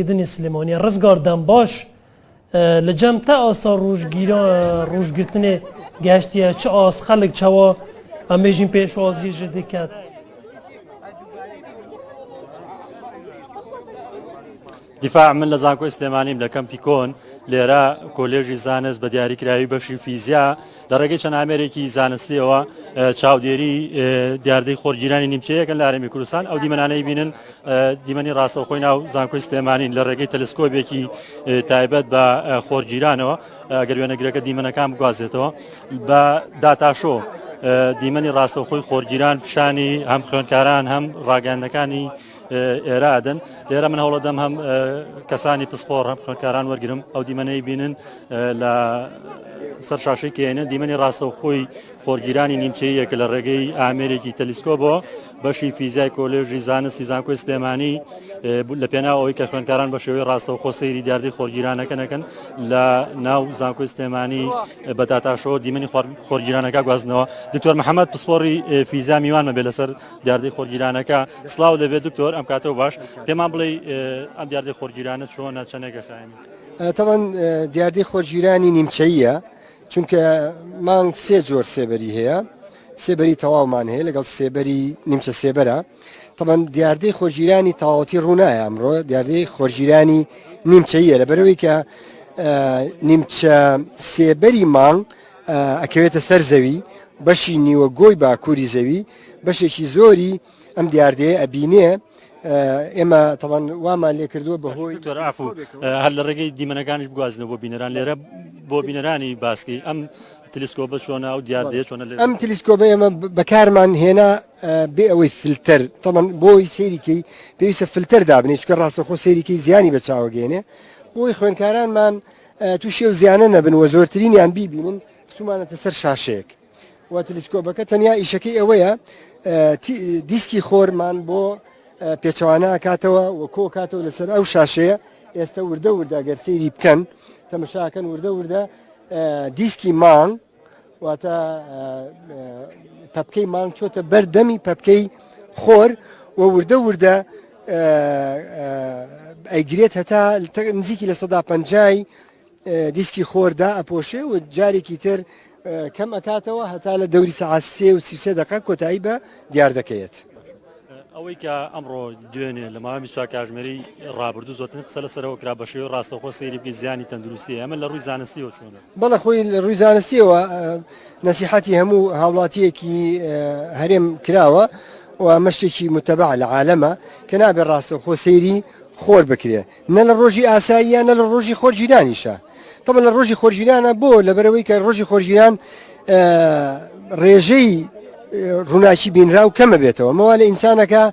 کردنی سلێمانیە ڕزگار دەمباش لە جەم تا ئاسا ڕژگیرا ڕژگرتنێ گەشتە چ ئاس خەلک چاوا ئەمێژین پێشوازی ژ دکات. دیفاع من لە زانکۆی سلێمانیم لە کەمپی کۆن لێرە کۆلێژی زانست بە دیاریکراوی بەشی فیزیا لە ڕێگەی چەند ئامێرێکی زانستیەوە چاودێری دیاردەی خۆرگیرانی نیمچەیەکەن لە هەرێمی کوردستان ئەو دیمەنانەی بینن دیمەنی ڕاستەوخۆی ناو زانکۆی سلێمانین لە ڕێگەی تەلسکۆبێکی تایبەت بە خۆرگیرانەوە ئەگەر وێنەگرەکە دیمەنەکان بگوازێتەوە بە داتاشۆ دیمەنی ڕاستەوخۆی خۆرگیران پیشانی هەم خوێنکاران هەم ڕاگەاندەکانی ئێرە ئەدەن لێرە من هەوڵەدەم هەم کەسانی پسپۆڕ هەم خوێنکاران وەرگرم ئەو دیمەنەی بینن لە سەر شاشەی کێنە دیمەنی ڕاستەوخۆی خۆرگیرانی نیمچەیەکە لە ڕێگەی ئامێرێکی تەلیسکۆبەوە بەشی فیزای کۆلێژی زانستی زانکۆی سلێمانی لە پێناەوەی کە خوێنکاران بە شێوەی ڕاستەوە خۆ سەیری دیاردەی خۆرگیرانەکەنەکەن لە ناو زانکۆی سلێمانی بە داتاشەوە دیمەنی خۆرگیرانەکە گوازنەوە دکتۆر محەممەد پسپۆری فیزا میوانمە بێ لەسەر دیاردەی خۆرگیرانەکە سڵاو لێبێت دکتۆر ئەم کاتەوە باش پێمان بڵێ ئەم دیاردەی خۆرگیرانە چۆنە چەنێکە خایێنی تەوان دیاردەی خۆرگیرانی نیمچەیە چونکە مانگ سێ جۆر سێبەری هەیە سێبەری تەواومان هەیە لەگەڵ سێبەری نیمچە سێبەرە تەبەن دیاردەی خۆرگیرانی تەواوەتی ڕوونایە ئەمڕۆ دیاردەی خۆرگیرانی نیمچەیە لە بەرەوەی کە نیمچە سێبەری مانگ ئەکەوێتە سەر زەوی، بەشی نیوە گۆی باکووری زەوی بەشێکی زۆری ئەم دیاردەیە ئەبینێ، ئێمە تەبەن وامان لێ کردووە بەهۆی تۆرافو هەر لە ڕێگەی دیمەنەکانیش بگوازنەوە بۆ بینەران لێرە بۆ بینەرانی باسکی ئەم تلیسکۆبە چۆنە و دیاردەیە چۆنە لێ ئەم تلیسکۆبە ئێمە بەکارمان هێنا بێ ئەوەی فلتەر تەبەن بۆی سەیریکەی پێویستە فلتەر دابنێ چکە ڕاستەخۆ سەیریکەی زیانی بە چاوەگەێنێ بۆی خوێنکارانمان تووشی ئەو زیانە نەبن و زۆرترینیان بیبینن چوومانەتە سەر شاشەیەک و تلیسکۆبەکە تەنیا ئیشەکەی ئەوەیە دیسکی خۆرمان بۆ پێچەوانە ئاکاتەوە و کۆکاتەوە لەسەر ئەو شاشەیە ئێستا وردە وردە گەر سەیری بکەن تەمەشاکەن وردە وردە دیسکی مانگ واتە پەپکەی مانگ چۆتە بەر دەمی پەپکەی خۆر و وردە وردە ئەیگرێت هەتا نزیکی لە سەدا پەنجای دیسکی خۆردا ئەپۆشێ و جارێکی تر کەم ئەکاتەوە هەتا لە دەوری سەعات سێ و سیسێ دەقە کۆتایی بە دیار دەکەیت. ئەوەی کە ئەمڕۆ دوێنێ لە ماوەی بیست و چوار کاژمێری ڕابردوو زۆرترین قسە لەسەرەوە کرا بە شێوەی ڕاستەوخۆ سەیری بکەی زیانی تەندروستییە ئەمە لە ڕووی زانستییەوە چۆنە؟ بەڵێ خۆی لە ڕووی زانستییەوە نەسیحەتی هەموو هاوڵاتییەکی هەرێم کراوە و ئەمە شتێکی موتەبەعە لە عالەمە کە نابێ ڕاستەوخۆ سەیری خۆر بکرێ نە لە ڕۆژی ئاساییە نە لە ڕۆژی خۆرگیرانیشە تەبەن لە ڕۆژی خۆرگیرانە بۆ لەبەرەوەی کە ڕۆژی خۆرگیران ڕێژەی ڕووناکی بینراو کەمە بێتەوە مەوا لە ئینسانەکە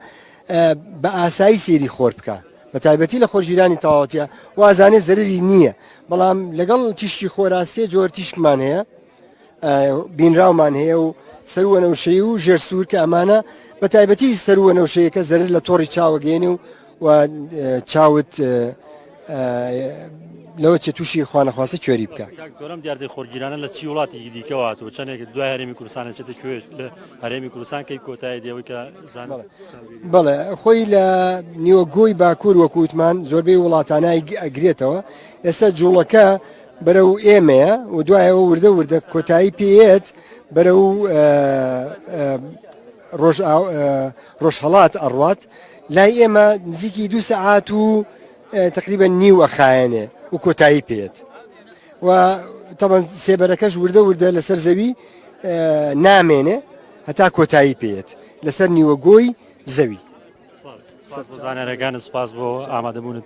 بە ئاسایی سێری خۆر بکە بە تایبەتی لە خۆرگیرانی تەواوەتە وازانێ زەرری نییە بەڵام لەگەڵ تیشکی خۆراستێ جۆر تیشکمان هەیە بینراومان هەیە و سەروو وەنەوشەیی و ژێر سوور کە ئەمانە بە تایبەتی سەروو وەنەوشەیەکە زەرر لە تۆڕی چاوە گەێنێ و و چاوت لەوە چێ تووشی خوانەخواستە کوێری بکە گەورم دیاردەی خۆرگیرانە لە چی وڵاتی دیکەوە هاتووە چەندێک دوای هەرێمی کوردستان چێتە کوێ لە هەرێمی کوردستان کەی کۆتای دێەوەی کە زان بڵێ خۆی لە نیوە گۆی باکوور وەکووتمان زۆربەی وڵاتانای ئەگرێتەوە ئێستا جوڵەکە بەرەو ئێمەیە و دوایەوە وردە وردە کۆتایی پێیەت بەرەو ڕۆژهڵات ئەڕات لای ئێمە نزیکی دو سەعات و تقریبە نیو ئەخایەنێ و کۆتایی پێت و تەبەن سێبەرەکەش وردە وردە لەسەر زەوی نامێنێ هەتا کۆتایی پێت لەسەر نیوە گۆی زەوی سپاس بۆ زانیاریەکانت سپاس بۆ ئامادەبوونت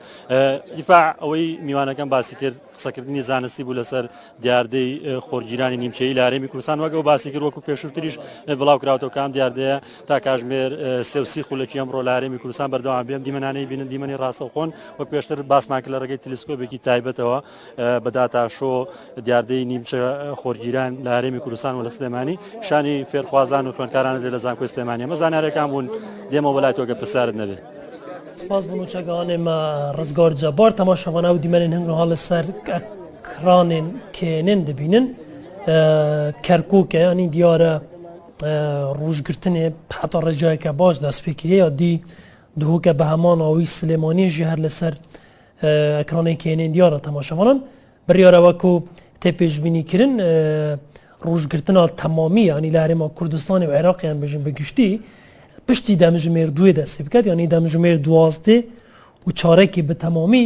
دیفاع ئەوەی میوانەکەم باسی کرد قسەکردنی زانستی بوو لەسەر دیاردەی خۆرگیرانی نیمچەی لارێمی کوردستان وەگەڵ باسی کرد وەکو پێشووتریش بڵاو کراوەوە کام دیاردەیە تا کاژمێر سێوسی خولەکی ئەمڕۆ لارێمی کوردستان بەردەوام بێم دیمەنانەی بینن دیمەنی ڕاستەوخۆن وەک پێشتر باسمان کرد لە ڕێگەی تلیسکۆبێکی تایبەتەوە بە داتا شۆ دیاردەی نیمچە خۆرگیران لە هەرێمی کوردستان و لە سلێمانی پیشانی فێرخوازان و خوێنکارانە لێ لە زانکۆی سلێمانی ئەمە زانارەکان بوون دێمە وەلای تۆگە پرسیارت نەبێ سپاس بۆ چەگانێ مە ڕزگار جەبار تەماشەوانە و دیمەنێن هەنگ هەڵ سەر کرانێن کێنێن دەبینن کەرکووکە ینی دیارە ڕوژگرتنێ حتا ڕێژایکە باش دەستپێکرێ یا دی دهۆکە بە هەمان ئەوی سلێمانیژی هەر لەسەر ئەکرانەی کێنین دیارە تەماشەوانان بڕیارە وەکو تێ پێشبینی کرن ڕوژگرتنا تەمامی ینی لە هەرێما کوردستانی و عێراقیان بژین بەگشتی پشتی دەمژمێر دوێ دەستی بکات ینی دەمژمێر دوازدێ و چارێکی بە تەمامی